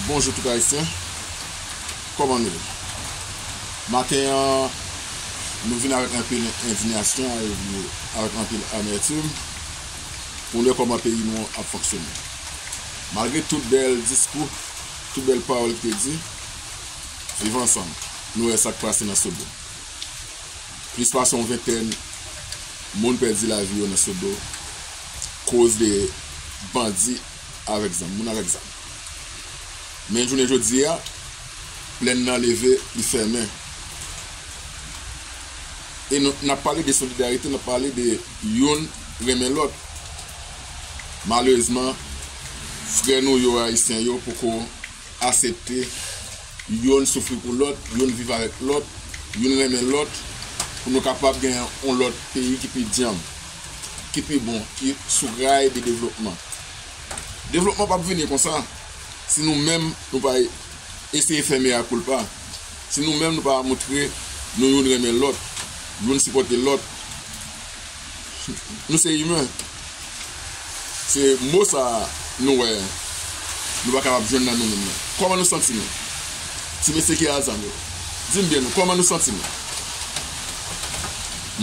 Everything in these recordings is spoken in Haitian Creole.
Bonjou tout ayisyen Koman nou ye Maten an Nou vin avèk anpil endinyasyon Avèk anpil amètim Pou nou wè kòman peyi nou ap fonksyone Malgre tout bèl diskou Tout bèl pawòl ki te di Viv ansanm Nou wè sak pase nan sodo Plis pase yon ventèn Moun pèdi lavi yo nan sodo Koz de bandi avèk zam, moun avèk zam. Men jounen jodi a, plèn nan leve, li fèmen. E nou, n ap pale de solidarite, n ap pale de youn renmen lòt. Malerezman, frè nou yo, Ayisyen yo, poko asepte youn soufri pou lòt, youn viv avèk lòt, youn renmen lòt, pou nou kapab gen yon lòt peyi ki pi djanm. ki pi bon, ki sou ray de devlopman. Devlopman pap vini konsa, si nou menm nou pa eseye fè mea culpa, si nou menm nou pa moutre nou youn renmen lòt, youn sipòte lòt. Nou se imen, se mo sa nou wè nou pa kapab jwenn nan nou menm nan. Kòman nou santi nou? Ti mesye ki Azam yo, di m byen nou, kòman nou santi nou?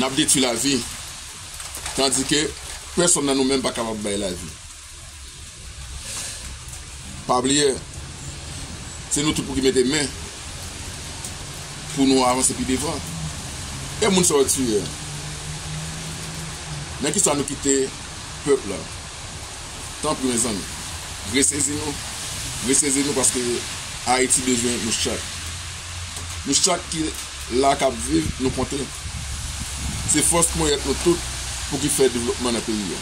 Nap detwi lavi. Tandike, pèsonn nan nou menm pa kapab bay lavi. Pa bliye, se nou tout pou ki mete men pou nou avanse pi devan. E moun sa yo tiye a? Nan kisa nou kite pèp la? Tanpri mezanmi, resezi nou, resezi nou paske Ayiti bezwen nou chak. Nou chak ki la kap viv nou konte. Se fòs ponyèt nou tout pou ki fè devlopman nan peyi a.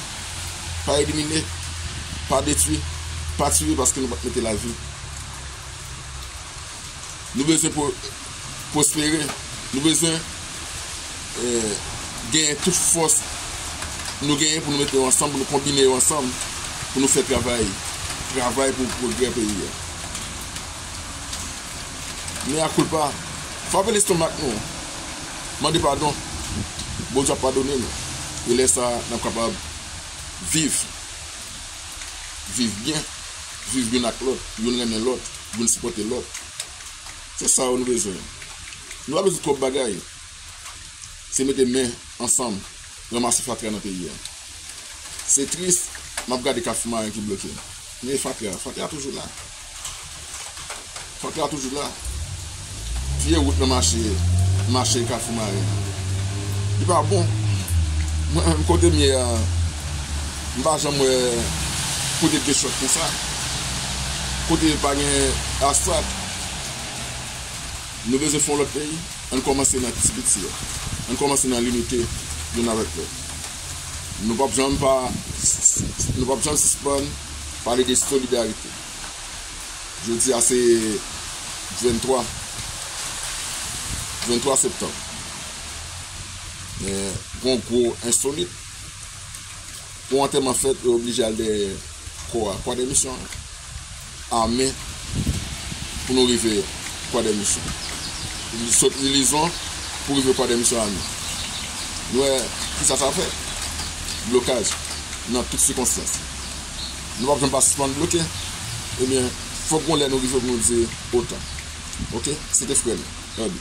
Pa elimine, pa detwi, pa tiye paske nou pap mete lavi. Nou bezwen pwospere, nou bezwen genyen tout fòs nou genyen pou nou mete yo ansanm, pou nou konbine yo ansanm, pou nou fè travay, travay pou pwogrè peyi a. Mea culpa, frape lestomak nou, mande padon, Bondye ap padone nou, e lè sa a n ap kapab viv, viv byen, viv youn ak lòt, youn renmen lòt, youn sipòte lòt. Se sa yo nou bezwen. Nou pa bezwen twòp bagay, se mete men ansanm ranmase fatra nan peyi a. Se tris, m ap gade kafou maren ki bloke, men fatra, fatra toujou la. Fòk la toujou la. Vye wout nan mache mache kafou maren an. Li pa bon. Mwen menm kote m ye a m pa janm wè kote gen chòt konsa. Kote pa gen asfalt. Nou bezwen fon lòt peyi. Ann kòmanse nan ti piti yo. Ann kòmanse nan limite youn avèk lòt. Nou pap janm pa nou pap janm sispann pale de solidarite. Jodi a se 23 23 septanm men gon gwo ensolit pou antèman fèt yo oblije al dèyè kò a kwadèmisyon ame pou nou rive kwadèmisyon sot ilizon pou rive kwadèmisyon ame nou wè kisa sa fè blokaj nan tout sikonstans. Nou pap janm pa sispann bloke ebyen fòk gon lè nou rive pou nou di otan ok se te frè nou Herby.